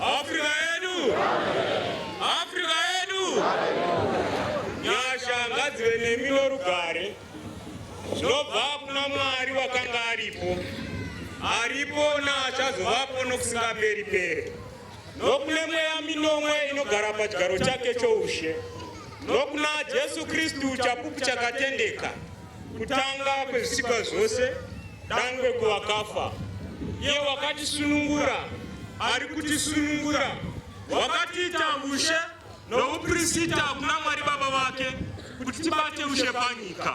Afrika yedu, Afrika yedu, nyasha ngadzive nemi norugare zvinobva kuna Mwari wakanga aripo, aripo naachazovapwo nokusingaperi peri. nokune mweya minomwe inogara pachigaro chake choushe nokuna Jesu Kristu chapupu chakatendeka kutanga kwezvisikwa zvose dangwe kuvakafa iye wakatisunungura ari kutisunungura wakatiita ushe nouprisita kuna Mwari Baba vake kuti tibate ushe panyika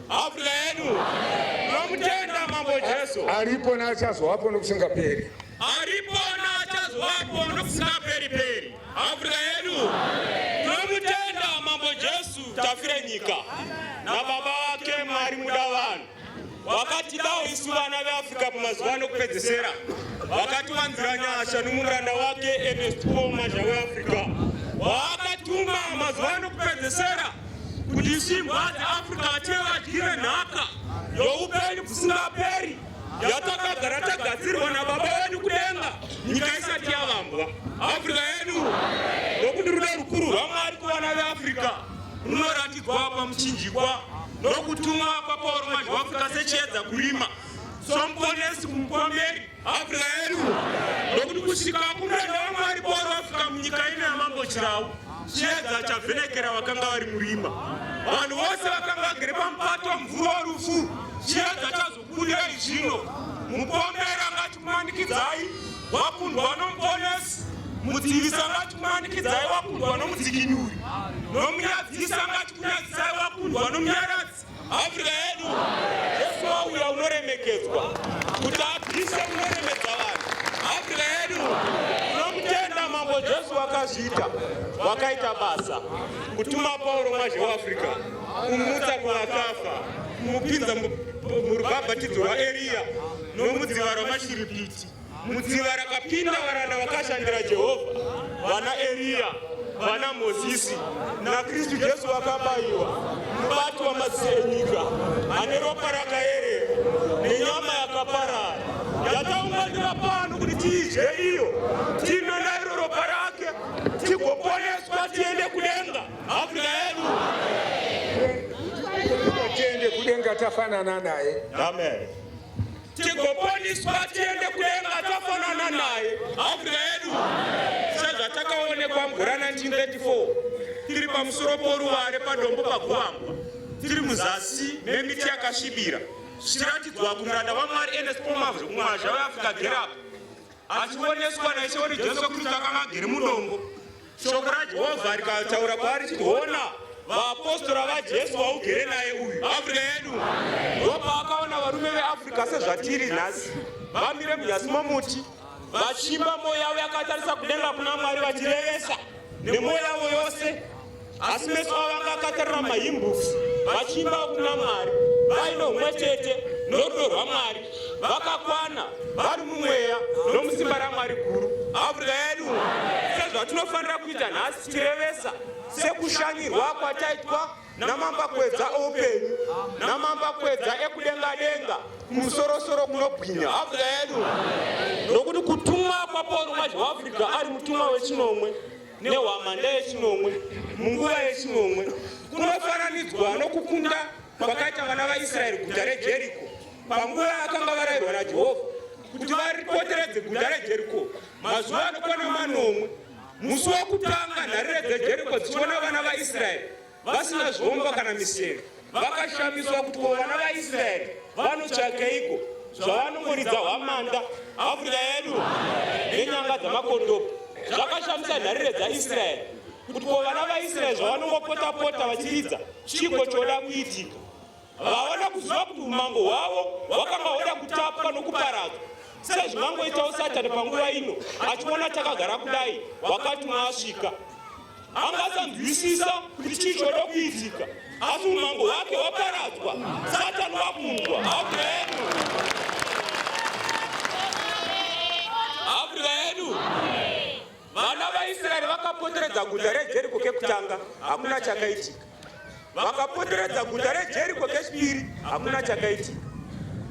Africa yedu nomutenda mambo Jesu. Aripo na achazowapo nokusingaperi. Aripo na achazowapo nokusingaperi peri. Africa yedu nomutenda mambo Jesu tafira nyika na baba wake Mwari muda vanhu wakatidawo isu vana veAfrica pamazuva ano kupedzesera wakatiwanzira nyasha nomuranda wake Ernest Paul Mazha weAfrica waakatuma mazuva ano kupedzesera kuti simbwa dzeafrica vative vadyire nhaka youpenyu bvusingaperi yatakagara tagadzirwa nababa vedu kudenga nyika isati yavambwa africa yedu nokuti rudo rukuru rwamwari kuvana veafrica runoratidzwa pamuchinjikwa nokutumwa kwapauro manje waafrica sechiedza kurima somuponesi kumupomberi Afrika yedu nokuti kusvika kumuranda waMwari Pauro afika munyika ino yamambo Chirau, chiedza chavhenekera vakanga vari murima. Vanhu vose vakanga vagere pamupato mvura worufu, chiedza chazobudei zvino. Mupomberi angati kumanikidzai wakundwa nomuponesi, mudzivisi angati kumanikidzai wakundwa nomudzikinuri, nomunyadzisi angati kunyadzisai wakundwa nomunyaradzi. Africa yedu Jesu wauya unoremekedzwa kuti apise kunoremedza vanhu. Africa yedu tinomutenda Mambo Jesu wakazviita wakaita basa kutuma Pauro mazhe waAfrica kumutsa kuvakafa kumupinza murubhabhatidzo rwaEriya nomudziva rwamashiripiti. Mudziva rakapinda varanda vakashandira Jehovha, vana Eriya, vana Mozisi naKristu Jesu vakabayiwa mubati wamaziso enyika ane ropa rakaerera nenyama yakaparara yataunganira pano kuti tiidye iyo tinwe nairo ropa rake tigoponeswa tiende kudenga afrika yedu tiende kudenga tafanana naye amen tigoponiswa tiende kudenga tafanana naye afrika yedu sezvatakaonekwa mvura 1934 tiri pamusoro poruware padombo paguambwa tiri muzasi memiti yakasvibira zvichiratidzwa kumuranda vamwari enes pomavri kumwazha weafrica gerapa achioneswa naIshe wake Jesu Kristu akanga agere mudongo. Shoko raJehovha rikataura kwaari chiti, Hona, vaapostora vaJesu vaugere naye uyu. Afrika yedu ndopaakaona varume veAfrica sezvatiri nhasi, vamire munyasi momuti vachimba, mwoyo yavo yakatarisa kudenga kuna Mwari vachirevesa nemwoyo yavo yose. asi meso avo anga akatarira mahimbus vachiimba kuna mwari vaine umwe chete norudo rwamwari vakakwana vari mumweya nomusimba ramwari guru afrika yedu sezvatinofanira kuita nhasi tichirevesa sekushanyirwa kwataitwa namambakwedza oupenyu namambakwedza ekudenga denga kumusorosoro kunobwinya afrika yedu nokuti kutumwa kwapauro mazhi waafrica ari mutumwa wechinomwe nehwamanda yechinomwe munguva yechinomwe kunofananidzwa nokukunda kwakaita vana vaisraeri guta rejeriko panguva yakanga varayirwa najehovha kuti varipoteredze guta rejeriko mazuva anokwana manomwe musi wokutanga nharire dzejeriko dzichiona vana vaisraeri vasina zvombo kana miseve vakashamiswa kuti vana vaisraeri vanotsvakeiko zvavanongoridza hwamanda afrika yedu nenyanga dzamakondopo zvakashamisa nharire dzaisraeri kuti ko vana vaisraeri zvavanongopota-pota vachiridza chiko choda kuitika Havana kuziva kuti umambo hwavo hwakanga hwoda kutapwa nokuparadzwa sezvingangoitawo Satani panguva ino achiona takagara kudai wakati maasvika anga asanzwisisa kuti chii choda kuitika asi umambo hwake waparadzwa satani wakundwa amen Vana vaIsraeri vakapoteredza guta reJeriko kekutanga, hakuna chakaitika. Vakapoteredza guta reJeriko kechipiri, hakuna chakaitika.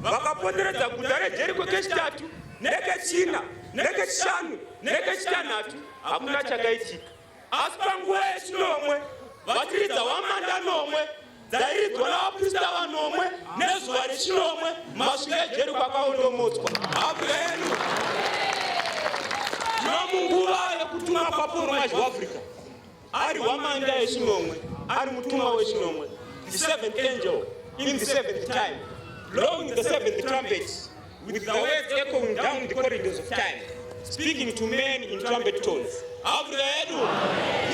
Vakapoteredza guta reJeriko kechitatu, nekechina, nekechishanu, nekechitanhatu, hakuna chakaitika. Asi panguva yechinomwe, vachiridza hwamanda nomwe, dzairidzwa navaprista vanomwe nezuva rechinomwe masvika ejeri kwakaondomotswa afrika yedu nomunguva yekutuma papono mazhi waafrica ari hwamanda yechinomwe ari mutumwa wechinomwe the seventh angel in the seventh time long the seventh trumpet With the words echoing down the corridors of time, speaking to men in trumpet tones. Abuda yedu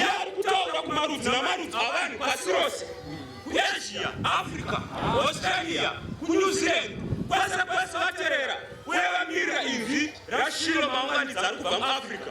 yari kutaura kumarudzi namarudzi avanhu pasi rose, kuAsia, Africa, Australia, kuNew Zealand, kwese kwese vaterera uye vamirira inzwi raShiro maunganidzi ari kubva muAfrica.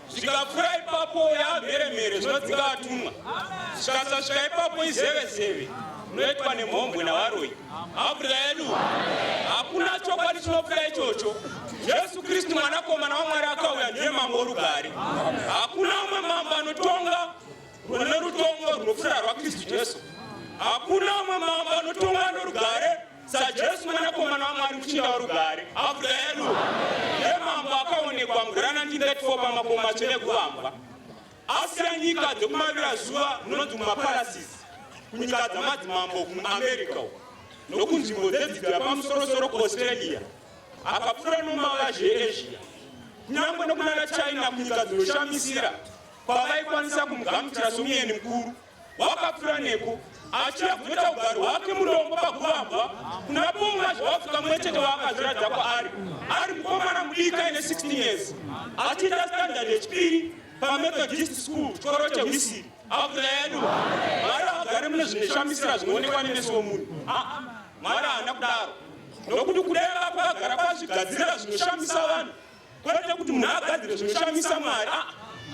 zvikapfuura ipapo yaamheremhere zvinodzinga vatumwa zvikasasvika ipapo izevezeve unoitwa nemhombwe navaroi hafurika yedu hakuna chokwadi chinopfuura ichocho jesu kristu mwanakomana wamwari akauya ndiye mambo worugare hakuna umwe mambo anotonga rune rutongo runopfuura rwakristu jesu hakuna umwe mambo anotonga norugare sajesu mwanakomana wamwari muchinda warugare afurika yedu yemambo akaonekwa mugurana 1934 pamakomo matsvene ekuvambwa asiya nyika dzekumavira zuva munonzi mumaparasisi kunyika dzamadzimambo kuamerica nokunzvimbo dzedzidzo yapamusorosoro kuaustralia akapfuura nomavazhe easia kunyange nokunana china kunyika dzinoshamisira kwavaikwanisa kumugamuchira somueni mukuru wakapfura neko achiya kunoita ugari hwake mudombo pakuvambwa kuna bonga zvawapfuka mwe chete waakazviradza kwaari ari mukomana mudika ine 16 years achiita standard yechipiri pamethodist school chikoro chehwisiri afuta yedu mwari agare mune zvinoshamisira zvinoonekwa nemeso womunhu mwari haana kudaro nokuti kudai vapagara pazvigadzirira zvinoshamisa vanhu Kwete kuti munhu agadzire zvinoshamisa Mwari, ah,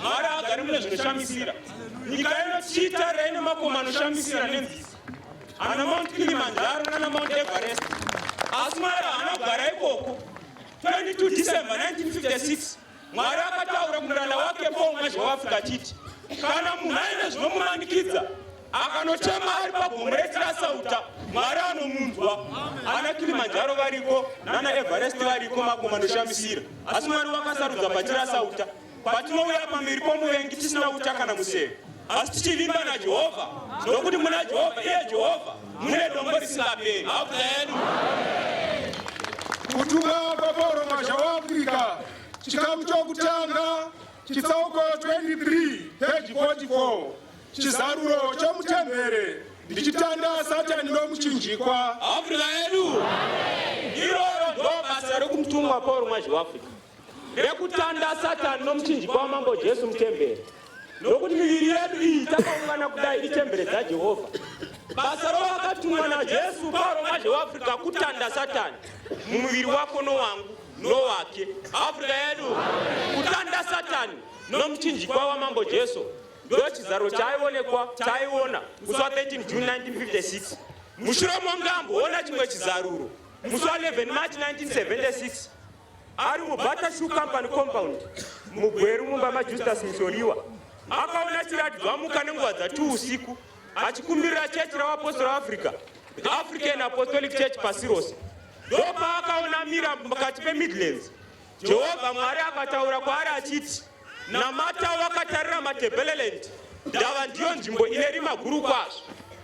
Mwari agari mune zvinoshamisira. Nyika ino chiitara ine makoma anoshamisira nenzizi, ana Mount Kilimanjaro nana Mount Everest, asi Mwari haana kugara ikoko. 22 December 1956 Mwari akataura kumuranda wake Paul Mwazha weAfrica achiti kana munhu aine zvinomumanikidza Akanochema ari pagomo retirasauta mwari anomunzwa ana kilimanjaro variko nana everest variko makomo anoshamisira asi mwari wakasarudza patirasauta patinouya pamberi pomuvengi tisina uta kana museve asi tichivimba najehovha nokuti muna jehovha iye jehovha mune dombo risingaperi amen kutuka kwapauro masha waafrica chikamu chokutanga chitsauko 23 peji 44 Chizaruro chomuchembere ndichitanda satani nomuchinjikwa. Afrika yedu iroro ndobasa rokumutumwa Paul Mwazhi weAfrica rekutanda satani nomuchinjikwa wamambo Jesu muchembere nokuti miviri yedu iyi takaungana kudai ichembere dzaJehovha basa rovakatumwa najesu paroma zveafrica kutanda satani mumuviri wako nowangu nowake africa yedu kutanda satani nomuchinjikwa wamambo jesu ndo chizaro chaionekwa chaiona musi wa 13 june 1956 mushure monge amboona chimwe chizaruro musi wa 11 march 1976 ari mubata shoe company compound mugweru mumba majustus musoriwa akaona chiratidzo amuka nenguva dzati usiku achikumbirira chechi ravapostori africa the african apostolic church pasi rose ndopaakaona mira pakati pemidlands jehovha mwari akataura kwaari achiti Namata wakatarira Matebeleland ndava ndiyo nzvimbo ine rima guru kwazvo.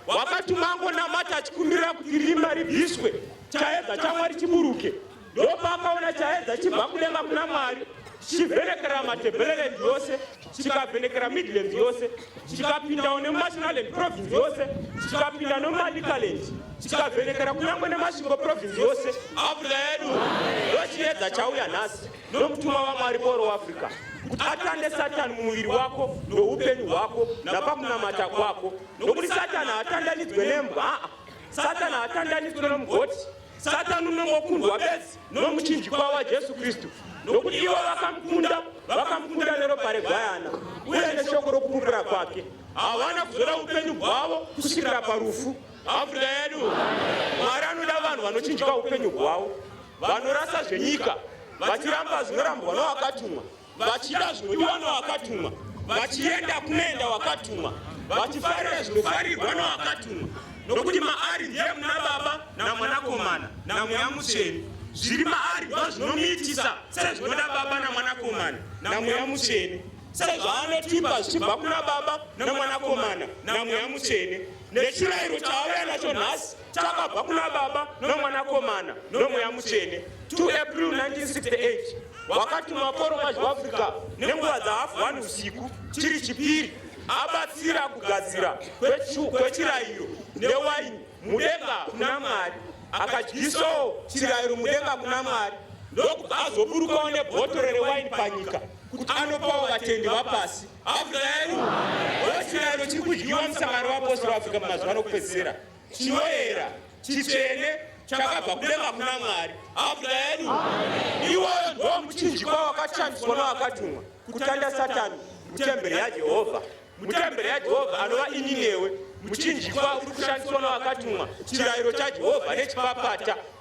Wakati mango namata achikumbirira kuti rima ribviswe chaedza chamwari chiburuke ndopaakaona chaedza chibva kudenga kuna mwari chivhenekera matebeleland yose chikavhenekera midland yose chikapindawo nemumashinaland province yose chikapinda nemumalikaland chikavhenekera kunyangwe nemasvingo province yose afrika yedu ndochiedza chauya nhasi Nokutuma vamwari boro Africa kuti atande Satani mumuviri wako noupenyu hwako napakunamata kwako, nokuti Satani haatandanidzwe nembwa, aa, Satani haatandanidzwe nomugoti, Satani unongokundwa bedzi nomuchinjikwa waJesu Kristu, nokuti ivo vakamukunda, vakamukunda neropa regwayana uye neshoko rokupupura kwake, havana kuzoda upenyu hwavo kusvikira parufu. Africa yedu Mwari anoda vanhu vanochinjika upenyu hwavo, vanorasa zvenyika vachiramba zvinorambwa nowakatumwa, vachida zvinodiwa nowakatumwa, vachienda kunoenda wakatumwa, vachifarira zvinofarirwa nowakatumwa, nokuti maari ndiye muna Baba naMwanakomana naMweya Mutsvene. Zviri maari ndozvinomuitisa sezvinoda Baba naMwanakomana naMweya Mutsvene. sezvaanotipa zvichibva kuna baba nemwanakomana namweya mutsvene nechirayiro chaauya nacho nhasi chakabva kuna baba nomwanakomana nomweya mutsvene 2 april 1968 wakatumwa koroma zveafrica nenguva dzahafu 1 usiku chiri chipiri abatsira kugadzira kwechirayiro newaini mudenga kuna mwari akadyisawo chirayiro mudenga kuna mwari ndokuti azoburukawo nebhotoro rewaini panyika kuti anopawo vatendi vapasi Afrika yedu oti chirayiro chiri kudyiwa musangano weapostori weAfrica mumazuva anokupedzisira chinoera chitsvene chakabva kudenga kuna Mwari Afrika yedu iwoyo ndo muchinjikwa wakashandiswa newakatumwa kutanda Satani mutemberi yaJehovha mutemberi yaJehovha anova ini newe muchinjikwa uri kushandiswa newakatumwa chirayiro chaJehovha nechipapata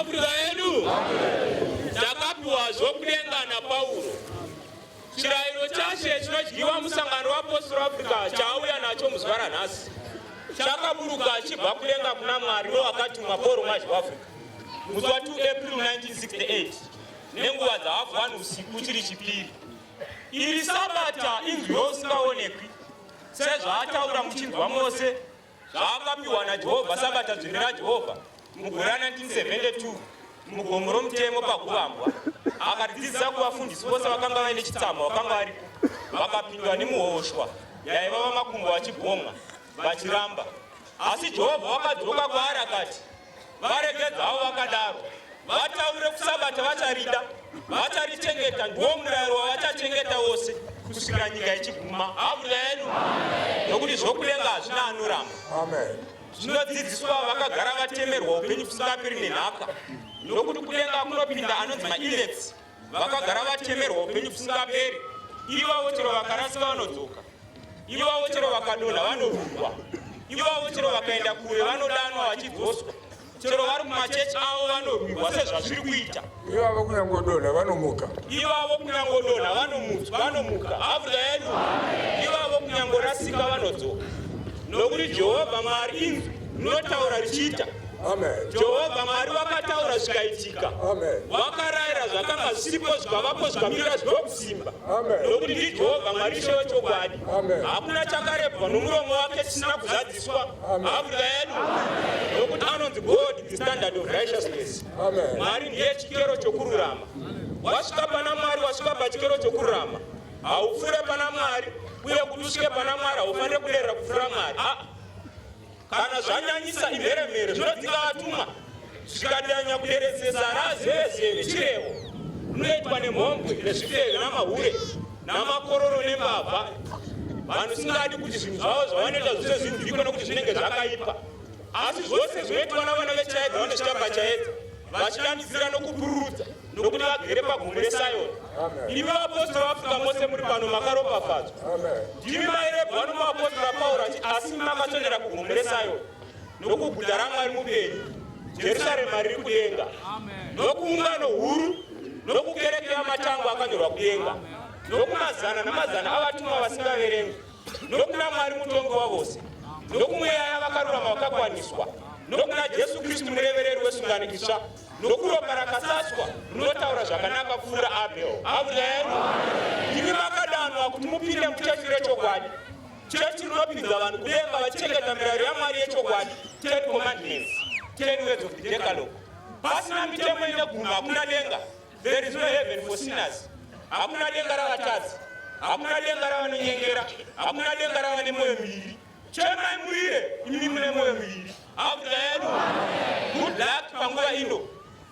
Afrika yedu takapiwa zvokudenga naPauro. Chirayiro chashe chinodyiwa musangano wapostori Africa chaauya nacho muzuva ranhasi chakaburuka achibva kudenga kuna Mwari wewakatumwa Pauro Mazhi Africa musi wa 2 April 1968 nenguva dzahafu wani usiku chiri chipiri. Iri sabata inzwi yousingaonekwi sezvaataura muchinzwa mose Zvaakapiwa naJehovha Sabata Dzvene raJehovha mugore ra 1972 mugomo romutemo paguvambwa akaridzidzisa kuvafundisi vose vakanga vaine chitsama vakanga varipo vakapindwa nemuhoshwa yaiva vamakumbo vachibhomwa vachiramba asi jehovha wakadzoka kwaari akati varegedzawo vakadaro vataure kusabata vacharida vacharichengeta ndiwo murayiro wavachachengeta wose kusvikira nyika ichiguma havuda yedu nokuti zvokudenga hazvina anoramba zvinodzidziswa vakagara vatemerwa upenyu kusingapiri nenhaka nokuti kudenga kunopinda anonzi mainets vakagara vatemerwa upenyu husingaperi ivavo chero vakarasika vanodzoka ivavo chero vakadonha vanorungwa ivavo chero vakaenda kure vanodanwa vachidzoswa chero vari mumachechi avo vanorwirwa sezvazviri kuita ivavo kunyangodonha vanomuka ivavo kunyangodonha vanomuka afrika yedu ivavo kunyangorasika vanodzoka nokuti jehovha mwari inzwi rinotaura richiita jehovha mwari vakataura zvikaitika vakarayira zvakanga zvisipo zvikavapo zvikamirira zvinokusimba nokuti ndijehovha mwari ishe wechokwadi hakuna chakarebwa nomuromo wake chisina kuzadziswa afrika yedu nokuti anonzi god the standard of righteousness mwari ndiye chikero chokururama wasvika pana mwari wasvika pachikero chokururama haupfuure pana mwari uye kuti usvike pana mwari haufanire kuderera kupfuura mwari ah. Kana zvanyanyisa imheremhere zvinodzika vatumwa zvikadanya kuderedzesa razezeve chirevo rinoitwa nemhombwe nezvifeve namahure namakororo nembavha vanhu singadi kuti zvinhu zvavo zvavanoita zvose zvinzwikwe nokuti zvinenge zvakaipa asi zvose zvinoitwa navana vechaedza vanochitamba chaedza vachidanidzira nokupururudza nokuti vagere pagomo reSayoni. Imi vaapostora vaAfrica mose muri pano makaropafadzwa. Ndimi mairebwa nomuapostora Pauro achi asi makaswedera kugomo reSayoni nokuguta raMwari mupenyu, Jerusarema riri kudenga, nokuungano huru nokukereke yamatango akanyorwa kudenga, nokumazana namazana avatumwa vasingaverengwi, nokuna Mwari mutongi wavose, nokumweya yavakarurama vakakwaniswa, nokuna Jesu Kristu murevereri wesungano itsva. nokuropa rakasaswa runotaura zvakanaka kupfuura abel amen imi makadanwa kuti mupinde muchechi rechokwadi chechi rinopinza vanhu kudenga vachichengeta mirayiro yamwari yechokwadi ten commandments ten words of the decalogue pasina mitemo ine guma hakuna denga there is no heaven for sinners hakuna denga ravatadzi hakuna denga ravanonyengera hakuna denga ravane mwoyo miviri Chemai murire imi mune moyo miviri. Hakuda yedu. Good luck panguva ino.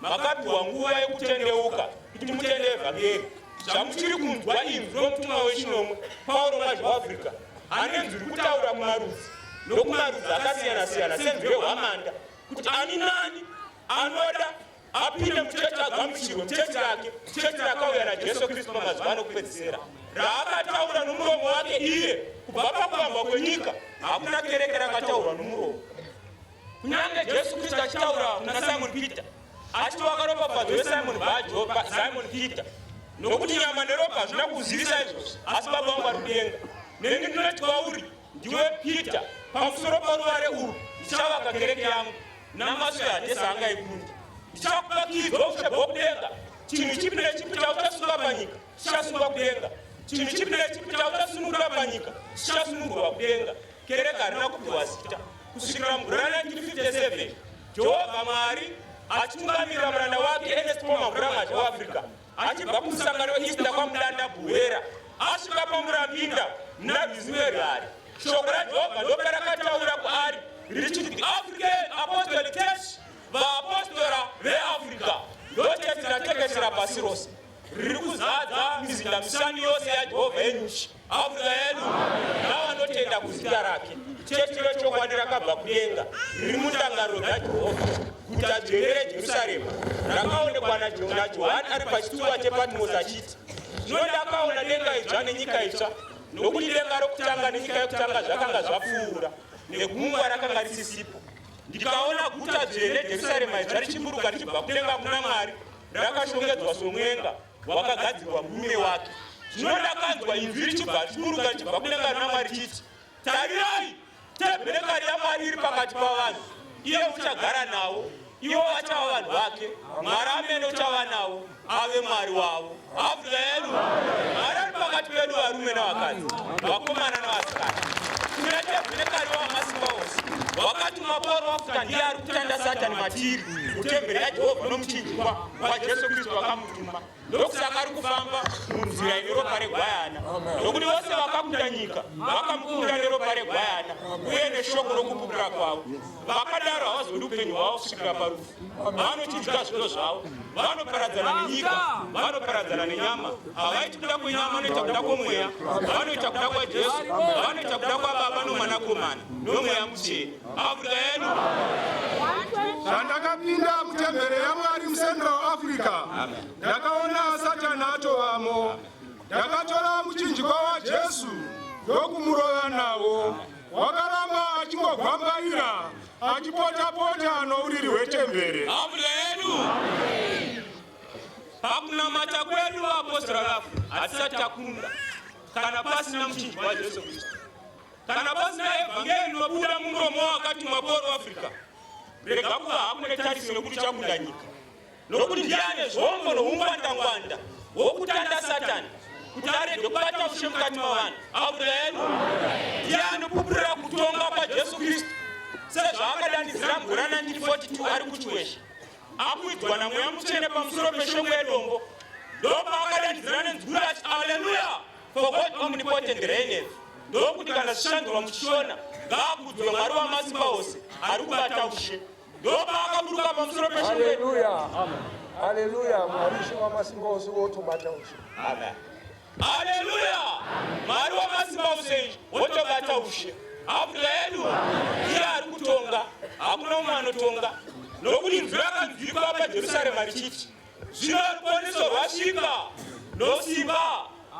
Makapiwa nguva yekutendeuka kuti mutende evhangeri. Zvamuchiri kunzwa imi nomutumwa wechinomwe Pauro Mazwi Africa ane nzwi kutaura mumarudzi nokumarudzi akasiyana-siyana senzwi rehwamanda kuti ani nani anoda apinde muchechi agamuchirwe muchechi rake chechi rakauya najesu kristu pamazuva anokupedzisira raakataura nomuromo wake iye kubva pakuvambwa kwenyika hakuna kereke rakataurwa nomuromo kunyange jesu kristu achitaura kuna simon peter achiti wakaropafadzwa wesimon bajopa simon peter nokuti nyama neropa hazvina kuzivisa izvozvo asi baba wangu ari kudenga neni ndinoti kwauri Ndiwe Peter, pamusoro paruvare urwu ndichavaka kereke yangu namaswe hadhesa anga ekunda. Ndichakupa kiyi dzoushe bhokudenga, chinhu chipi nechipi chauchasunga panyika chichasungwa kudenga, chinhu chipi nechipi chauchasunungura panyika chichasunungurwa kudenga. Kereke harina kupiwa zita kusvikira mugore 1957 Jehovha Mwari achitungamirira muranda wake Ernest Paul Mavhura Mazha weAfrica. achibva kumusangano weista kwamudanda buhera asvika pamurambinda muna rwizimerwari shoko rajehovha ndopa rakataura kwaari richiti the african apostolic church vaapostora veafrica ndocheti ratekeshera pasi rose riri kuzadza mizinda mishanu yose yajehovha yenyuchi Abuda yedu nawo anotenda kuzita rake. Chechi rechokwadi rakabva kudenga riri mundangariro dzaJehovha. Guta dzvene reJerusarema rakaonekwa naJohani ari pachitsuwa chePatmosi achiti, Zvino ndakaona denga idzva nenyika itsva, nokuti denga rokutanga nenyika yokutanga zvakanga zvapfuura, negungwa rakanga risisipo. Ndikaona guta dzvene Jerusarema idzva richiburuka richibva kudenga kuna Mwari, rakashongedzwa somwenga, wakagadzirwa murume wake zvinoda kanzwa inzwi richibva richiburuka richibva kudenga rina mwari chiti tarirai tebherekari yamwari iri pakati pavanhu iye uchagara nawo ivo vachava vanhu vake mwari amene uchava nawo ave mwari wavo amen mwari ari pakati pedu varume navakadzi vakomana navasikana tinatebherekari wamasimba ose wakatuma pauro wafuta ndiye ari kutanda satani matiri kutemberi yajehovha nomuchinjikwa kwaJesu Kristu vakamutuma, ndokusaka ari kufamba munzira ine ropa regwayana, nokuti vose vakakunda nyika vakamukunda neropa regwayana uye neshoko rokupupura kwavo. Vakadaro havazodi upenyu hwavo kusvikira parufu, vanochidya zvido zvavo, vanoparadzana nenyika, vanoparadzana nenyama, havaiti kuda kwenyama, vanoita kuda kwomweya, vanoita kuda kwaJesu, vanoita kuda kwaBaba noMwanakomana nomweya mutsvene. Maguta edu. Zvandakapinda mutembere yaMwari muCentral Africa, ndakaona Satani atovamo. Ndakatora muchinjikwa waJesu ndokumurova nawo. Wakaramba achingogwambaira achipota-pota nouriri hwetembere. Maguta edu. Pakunamata kwedu vaapostora vafu hatisati takunda kana pasina muchinjikwa waJesu Kristu. Kana pasina evhangeri rinobuda mumuromo wakati mwaporo Africa, rega kuva hakune tarisi nekuti chakunda nyika, nokuti ndiye ane zvombo noungwandangwanda wokutanda Satani kuti arege kubata ushe mukati mavanhu. Amen. Ndiye anopupurira kutonga kwaJesu Kristu sezvaakadanidzira mugore 1942 ari kuchiwesha akuidzwa namweya mutsvene pamusoro peshongwe yedombo ndopaakadanidzira nenzwi kuti aleluya For God omnipotent reigneth ndokuti kana zvichanzwa muchishona ngaakudzwe mwari wamasimba ose ari kubata ushe ndopaakaburuka pamusoro peshaleluya haleluya mwari ushe wamasimba ose wotobata ushe amen haleluya mwari wamasimba ose wotobata ushe abuda yedu iye ari kutonga hakuna umwe anotonga nokuti nzwi rakanzwikwa pajerusarema richiti Zvino ruponeso rwasvika nosimba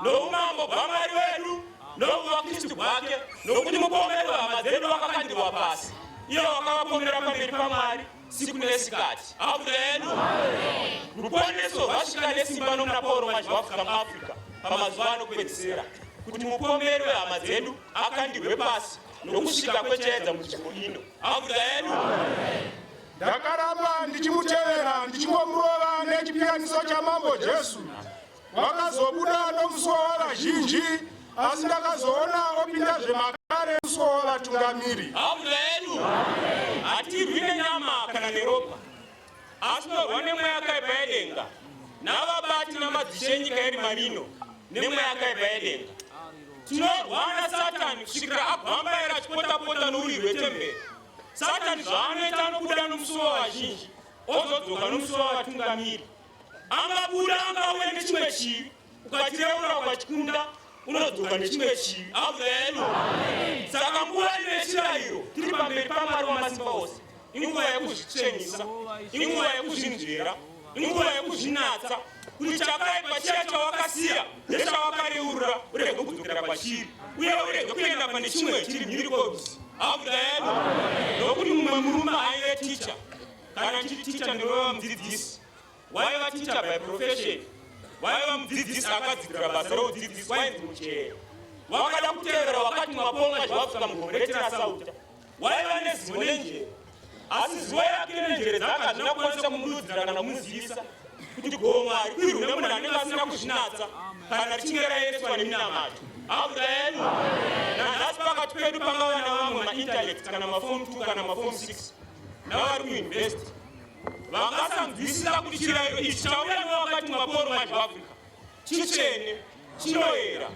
noumambo bwamwari wedu nouvakristu bwake nokuti mupomero hama dzedu wakakandirwa pasi iye wakavapomera pamberi pamwari siku nesikati amen ruponeso rwasvika nesimba nomuna pauro manje waafrica muafrica pamazuva anopedzisira kuti mupomeri wehama dzedu akandirwe pasi nokusvika kwechaedza mudzvimbo ino amen Ndakaramba ndichimutevera ndichingomurova nechipiyaniso chamambo Jesu. Vakazobuda nomusuwo wavazhinji asi ndakazoona opinda zvemakare musuwo wavatungamiri. Hauda yedu hatirwi nenyama kana neropa asi torwa nemweya yakaipa yedenga navabati namadzishe enyika yerima rino nemweya yakaipa yedenga tinorwana satani kusvikira abvambaira achipotapota nouriri hwetemberi Satani zvaanoita anobuda nomusuwo wavazhinji ozodzoka nomusuwo wavatungamiri. Angabuda angauya nechimwe chivi, ukatireura ukachikunda unodzoka nechimwe chivi. Amen. Saka nguva ino yechirayiro tiri pamberi paMwari wamasimba ose, inguva yekuzvitsvenisa, inguva yekuzvinzvera, inguva yekuzvinatsa. kuti chakaipa chiya chawakasiya nechawakareurura urege kudzokera pachiri uye urege kuenda pane chimwe chiri mhiri kobzi audayani nokuti mumwe murume aive ticha kana chiri ticha ndorova mudzidzisi waiva ticha by profession waiva mudzidzisi akadzidira basa roudzidzisi wainzi muchee wakada kutevera wakati mwaponga zvawapfuka mugomo retirasauta waiva nezivo nenjere asi zivo yake nenjere dzake hazvina kukwanisa kumududzira kana kumuzivisa kuti gomo harikwirwi nemunhu anenge asina kuzvinatsa kana richinge raereswa neminamato audayenu nanhasi pakati pedu pangava navamwe maintellect kana mafom t kana mafom six navari kuinvesti vakasanzwisisa kuti chirayiro ichi chauya newakati maporo mazhivafrica chichene Chinoera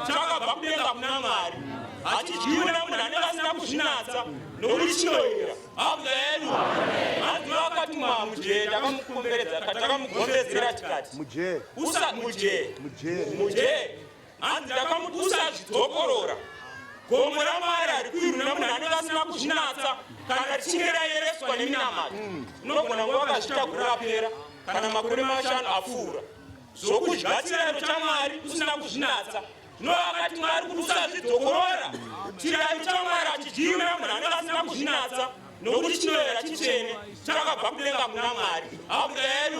chakabva kudenga kuna Mwari, hachidyiwi nemunhu anenge asina kuzvinatsa, nokuti chinoera. Ameni. Hanzi vakatumwa mujee, takamukomberedza, takamugombedzera tikati mujee, usa mujee, mujee, mujee. Hanzi ndakamuti usazvidzokorora gomo ramwari ari kuirwi nemunhu anenge asina kuzvinatsa kana richinge rayereswa neminamato unogona kuva vakazvitakura rapera kana makore mashanu apfuura zvokudya chirayiro chamwari usina kuzvinatsa no akati mwari kuti usazvidzokorora chirayiro chamwari achidyiwi namunhu anenge asina kuzvinatsa nokuti chinoyera chitsvene chakabva kudenga kuna mwari abuda yedu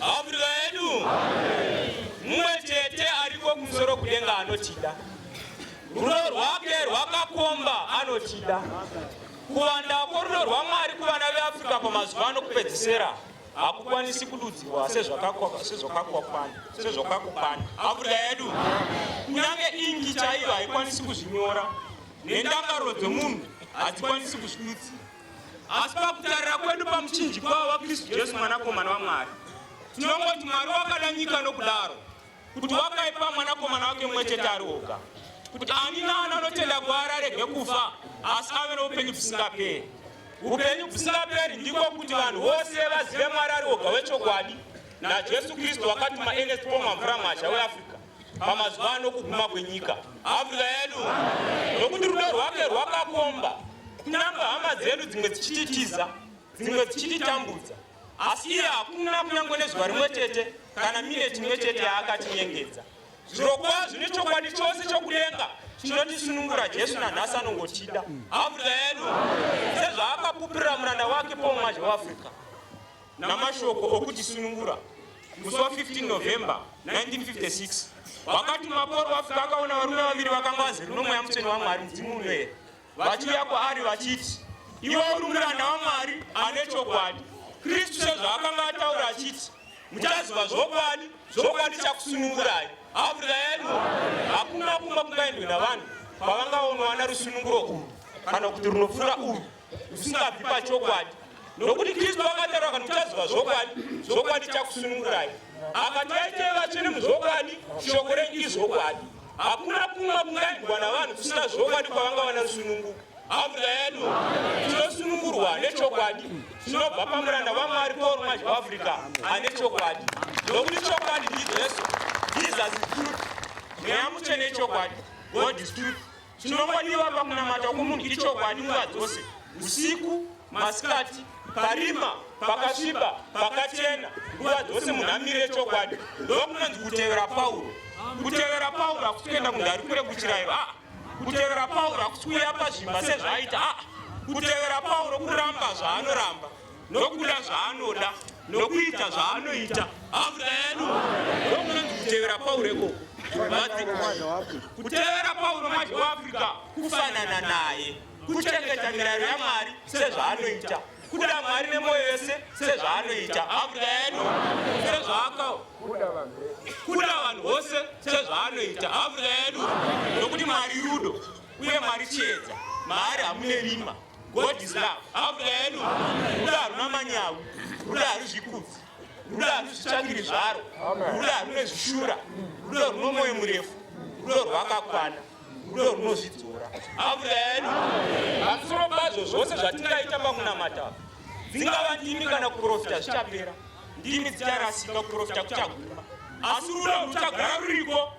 Afrika yedu mumwe chete ariko kumusoro kudenga anotida, rudo rwake rwakakomba anotida. Kuwanda kworudo rwaMwari kuvana veAfrica pamazuva ano kupedzisera hakukwanisi kududzirwa sezvakakokwana Afrika yedu kunyange ingi chaiyo haikwanisi kuzvinyora nendangariro dzomunhu hadzikwanisi kuzvidudzira. Asi pakutarira kwedu pamuchinjikwa waKristu Jesu mwanakomana waMwari, tinongoti Mwari wakada nyika nokudaro kuti wakaipa mwanakomana wake mumwe chete ari oga, kuti ani naani anotenda kwaari arege kufa asi ave noupenyu bvisingaperi. Upenyu bvisingaperi ndiko kuti vanhu vose vazive Mwari ari oga wechokwadi naJesu Kristu wakatuma Ernest Pomamvura Mwazha weAfrica. pamazuva ano kuguma kwenyika afrika yedu nokuti rudo rwake rwakakomba kunyangwe hama dzedu dzimwe dzichititiza dzimwe dzichititambudza asi iye hakuna kunyangwe nezuva rimwe chete kana mineti imwe chete yaakatinyengedza zvirokwazvo nechokwadi chose chokudenga chinotisunungura jesu nanhasi anongotida afrika yedu sezvaakapupirira muranda wake pomumazhe weafrica namashoko okutisunungura musi wa 15 November 1956 wakati maporo wafika akaona varume vaviri vakanga vazere nomweya mutsvene waMwari mudzimu unoera vachiuya kwaari vachiti iwe uri muranda waMwari ane chokwadi Kristu sezvaakanga ataura achiti muchaziva zvokwadi zvokwadi chakusunungurai abrayani hakuna kumba kungaendwe navanhu kwavanga vonowana rusununguro urwu kana kuti runopfuura urwu usingabvi pachokwadi nokuti kristu vakataura kana uchaziva zvokwadi zvokwadi chakusunungurai akati aitei vatsvene muzvokwadi shoko renyu izvokwadi hakuna kumwe kungaendwa navanhu kusina zvokwadi kwavanga vana rusununguko ambuya yedu tinosunungurwa nechokwadi tinobva pamuranda vamwari paul mazhi waafrica ane chokwadi nokuti chokwadi ndijesu jesus truth mweya mutsvene chokwadi god is truth Chinongodiwa pakunamata kwomunhu ichokwadi nguva dzose, usiku, masikati, parima, pakasviba, pakachena, nguva dzose munhu amire chokwadi. Ndokunonzi kutevera Pauro. Kutevera Pauro hakusi kuenda kunhu ari kure kuchirayiro, aa. Kutevera Pauro hakusi kuuya pazvimba sezvaaita, aa. Kutevera Pauro kuramba zvaanoramba. nokuda zvaanoda nokuita zvaanoita afuta yedu ndokunonzi kutevera pauro ikoko kutevera pauro manje weafrica kufanana naye kuchengeta mirayiro yamwari sezvaanoita kuda mwari nemwoyo yese sezvaanoita afuta yedu sezvaakao kuda vanhu vose sezvaanoita afuta yedu nokuti mwari rudo uye mwari chiedza maari hamune rima God is love. Africa yedu rudo haruna manyawi, rudo harizvikudzi, rudo harizvitsvakiri zvaro, rudo harune zvishura, rudo runo mwoyo murefu, rudo rwakakwana, rudo runozvidzora. Africa yedu pamusoro pazvo zvose zvatingaita pakunamata dzingava ndimi kana kuprofita zvichapera, ndimi dzicharasika, kuprofita kuchaguma, asi rudo ruchagara ruriko.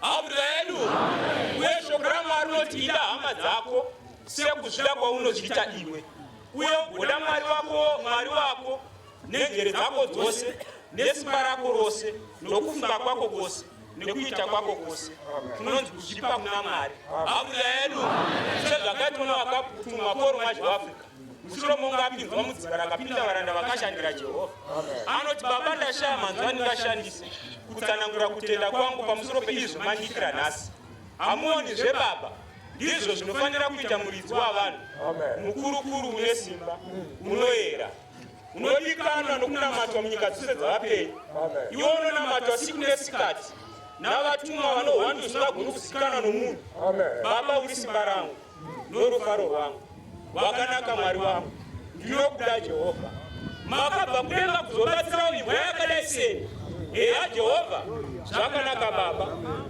Hambza yedu. Uye shoko raMwari rinoti ida hama dzako sekuzvida kwaunozviita iwe. Uye ugoda Mwari wako, Mwari wako nenjere dzako dzose nesimba rako rose nokufunga kwako kwose nekuita kwako kwose kunonzi kuzvipa kuna Mwari. Hambza yedu. Sezvakaitwa navakatumwa koromazhi weAfrica. mushure mokunge apinzwa mudzibara akapinda varanda vakashandira jehovha anoti baba ndashaya manzwi andingashandise kutsanangura kutenda kwangu pamusoro peizvo mandiitira nhasi hamuoni zvebaba ndizvo zvinofanira kuita muridzi wavanhu mukurukuru une simba unoyera unodikanwa nokunamatwa munyika dzose dzavapenyu iwo unonamatwa siku nesikati navatumwa vanohwanda usingagoni kuzikanwa nomunhu baba uri simba rangu norufaro rwangu wakanaka mwari wangu ndinokuda jehovha makabva kudenga kuzobatsirawo imbwa yakadai sei heya jehovha zvakanaka baba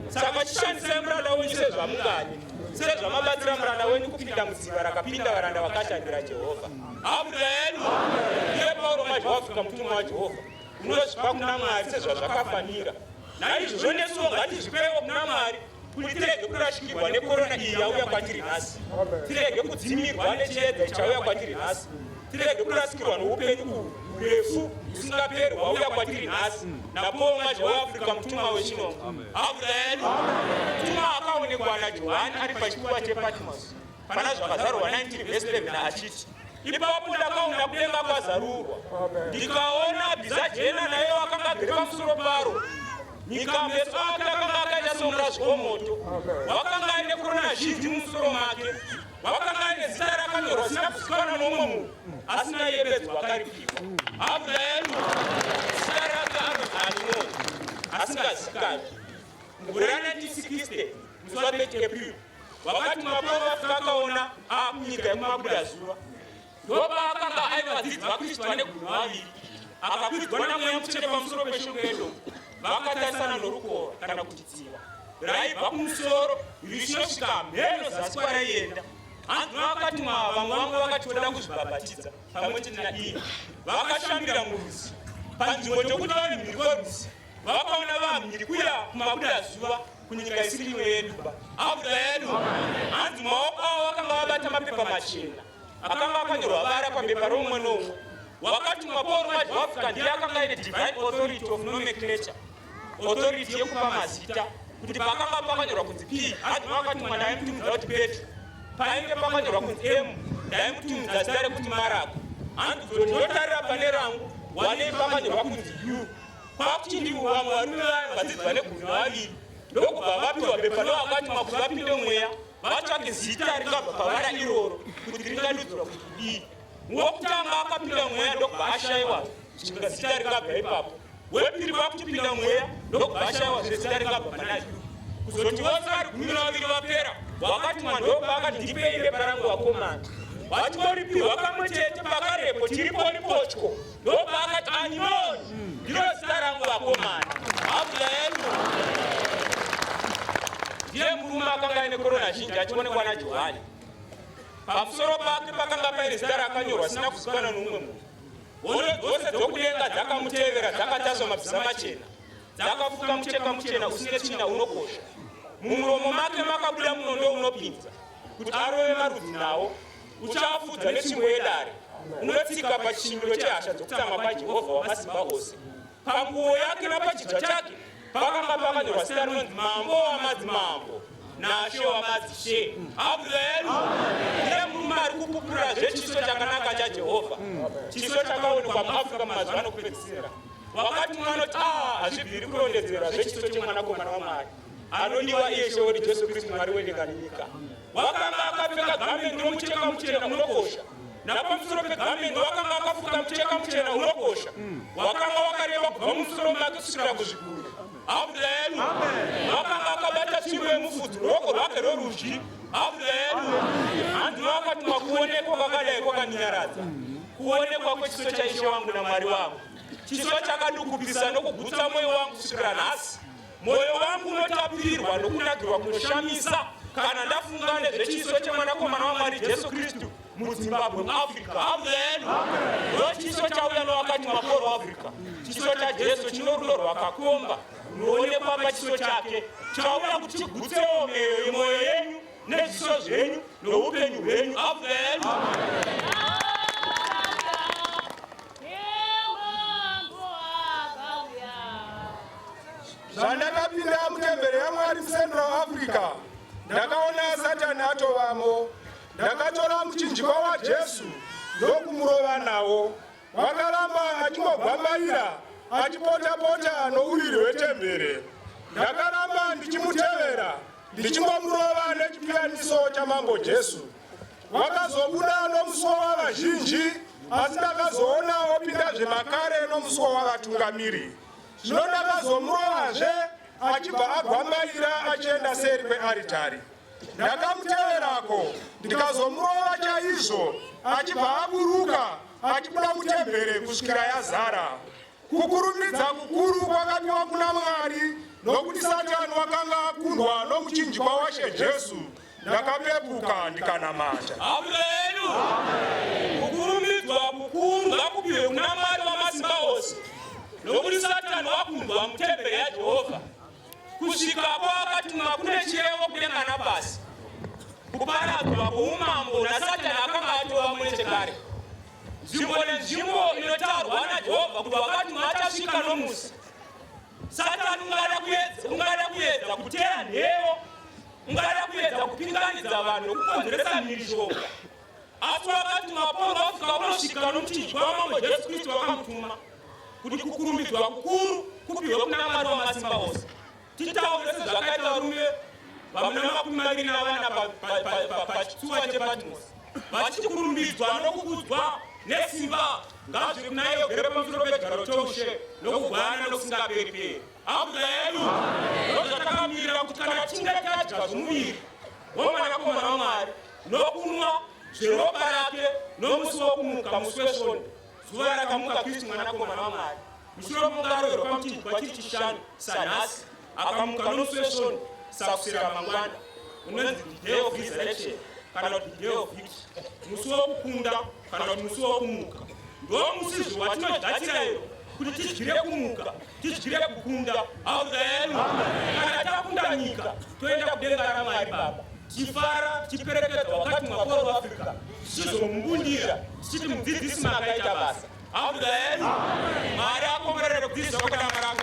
saka chishandisai muranda wenyu sezvamungadi sezvamabatsira muranda wenyu kupinda mudziva rakapinda varanda vakashandira jehovha abuda yedu iye pauro mazhawafika mutumwa wajehovha unozvipa kuna mwari sezvazvakafanira naizvozvo nesuwo ngatizvipewo kuna mwari kuti tirege kurashikirwa nekorona iyi yauya kwatiri nhasi tirege kudzimirwa nechiedza chauya kwatiri nhasi tirege kurasikirwa noupenyu uhu urefu usingaperi hwauya kwatiri nhasi napowo mwaje weafrica mutumwa wechino amen mutumwa akaonekwa najohani ari pachikuva chepatmos Pana zvakazarurwa 19 vhesi 11 achiti ipapo ndakaona kudenga kwazarurwa ndikaona bhiza jena naye wakanga agere pamusoro paro nyika meso ake akanga akaita seurazi womoto wakanga aine kurona zhinji mumusoro make wakanga aine zita rakanyorwa zina kuzikanwa nomwe munhu asi naiye bedzi wakaripirwa abulaelu zita rake anonzi animoni asingazikanwi mugore ra 1960 muswa 30 april wakati mapova kakaona akunyika yekumabuda zuva ndopaakanga aiva vadzidzi vakristu vane gumi vaviri akakwidzwa namweya mutsvene pamusoro peshungu yedo vakatarisana norukova kana kuti dziva raibva kumusoro richinosvika mheno zasi kwaraienda hanzi vakati mwa vamwe vamwe vakati voda kuzvibhabhatidza pamwe chete naiye vakashambira muruzi panzvimbo chokuti vave mhiri kweruzi vakaona vanhu ndikuya kumabuda zuva kunyika isiri imwe yedu abuda yedu hanzi maoko avo vakanga vabata mapepa machena akanga akanyorwa vara pabepa romumwe nomwe wakati maporo wacho waafrica ndiye akanga aine divine authority of nomenclature authority yekupa mazita kuti pakanga pakanyorwa kunzi p hanzi vakati mwana aimutumidza kuti petro painge pakanyorwa kunzi m ndaimutumidza zita rekuti marako hanzi zoti ndotarira pane rangu wanei pakanyorwa kunzi u kwakuti ndivo vamwe varume vayo vadzidzi vane gumi vaviri ndokubva vapiwa bepa nevakati makuti vapinde mweya vatsvake zita ringabva pavara iroro kuti ringadudzura kuti kudii wokutanga akapinda mweya ndokubva ashaiwa zvichibva zita ringabva ipapo wepiri vakutipinda mweya ndokubva ashaiwa zve zita ringabva panai kuzoti vose vari gumi navaviri vapera wakati mwandokubva akati ndipei bepa rangu vakomana vachitoripiwa kamwe chete pakarepo tiripo ripotyo Ndobva akati Anyoni ndiro zita rangu vakomana. Hakuda yenu. Ndiye murume akanga aine korona zhinji achionekwa naJohani. Pamusoro pake pakanga paine zita rakanyorwa sina kuzikana noumwe munhu. Hondo dzose dzokudenga dzakamutevera dzakataswa mabhiza machena. Dzakafuka mucheka muchena usine tsvina unokosha. Mumuromo make makabuda munondo unopinza kuti arove marudzi nawo Uchafudza netsvimbo yedare, unotsika pachishinyiro chehasha dzokutsamwa kwaJehovha Wamasimba Ose. Panguo yake napachidya chake pakanga pakanyorwa zita rinonzi Mambo Wamadzimambo naShe Wamadzishe. Amen. Ndiye murume ari kupupura zvechiso chakanaka chaJehovha, chiso chakaonekwa muAfrica mumazuva anokupedzisira. Wakati mumwe anoti, ah, hazvibviri kurondedzera zvechiso chemwanakomana waMwari anodiwa iye Sheori Jesu Kristu, Mwari wedenga nenyika. Wakanga akapfeka gamendi romucheka muchena unokosha napamusoro pegamendi wakanga akafuka mucheka muchena unokosha wakanga wakareba kubva mumusoro make kusvikira kuzviguru abuda yedu wakanga akabata tsvimbo yemufudzi ruoko rwake rorudyi abuda yedu handiwo akati makuonekwa kwakadai kwakandinyaradza kuonekwa kwechiso chaishe wangu namwari wangu chiso chakadukupisa nokugutsa mwoyo wangu kusvikira nhasi Mwoyo wangu unotapirwa nokunakirwa kunoshamisa kana ndafunga nezvechiso chemwanakomana waMwari Jesu Kristu muZimbabwe muAfrica. Amen. Ndochiso chauya nowakati makoro Africa. Chiso chaJesu chino rudo rwakakomba runoonekwa pachiso chake chauya kuti chigutsewo meyo yemwoyo yenyu nezviso zvenyu noupenyu hwenyu. Amen. Amen. zvandakapinda mutembere yamwari mucentral africa ndakaona satani atovamo ndakatora muchinjiko wajesu ndokumurova nawo wakaramba achingogwambaira achipotapota nouriri hwetembere ndakaramba ndichimutevera ndichingomurova nechipiyaniso chamambo jesu vakazobuda nomusuo wavazhinji asi ndakazoona opinda zvemakare nomusuo wavatungamiri zvino ndakazomurovazve achibva agwambaira achienda seri kwearitari ndakamuteverako ndikazomurova chaizvo achibva aburuka achibuda mutembere kusvikira yazara Kukurumidza kukuru kwakapiwa kuna Mwari nokuti Satani wakanga akundwa nomuchinjikwa washe Jesu, ndakapepuka ndikanamata. Amen. Kukurumidzwa kukuru ngakupiwe kuna Mwari wamasimba ose nokuti Satani wakundwa mutemberi yaJehovha kusvika kwakatumwa kune chirevo kudenga napasi kuparadzwa kwoumambo nasatani akanga atova mune chekare Nzvimbo nenzvimbo inotaurwa naJehovha kuti wakati maachasvika nomusi. Satani ungada kuedza, ungada kuedza kuteya nheyo, ungada kuedza kupinganidza vanhu nokukonzeresa mhirizhonga. Asi wakati mapondwa kusvika unosvika nokuti Jehova Mambo Jesu Kristu wakamutuma kuti kukurumbidzwa kukuru kupihwe kuna Mwari wamasimba ose. Titaure sezvakaita varume vamuna makumi maviri navana pachitsuwa chepatmos vachiti kurumbidzwa nokukudzwa nesimba ngazviri kunaye ugere pamusoro pechigaro choushe nokugwana nokusingaperi-peri abuda yedu ndozvatakamirira kuti kana tinge tadya zvomuviri womwanakomana wamwari nokunwa zveropa rake nomusi wokumuka musi wesvondo zuva rakamuka Kristu mwanakomana waMwari mushure mokunge aroverwa pamuti kwachiri chishanu sanhasi akamuka nomusi wesvondo sakusera mangwana unonzi the day of resurrection kana kuti the day of victory musi wokukunda kana kuti musi wokumuka ndo musizvo watinogadzira iro kuti tidyire kumuka tidyire kukunda hauda yenu kana takunda nyika toenda kudenga ramwari baba tifara tiperekedza wakati mwakoro weafrica tichizomumbundira tichiti mudzidzisi makaita basa hauda yenu mari akomborere kudzidzisa kwakadama rako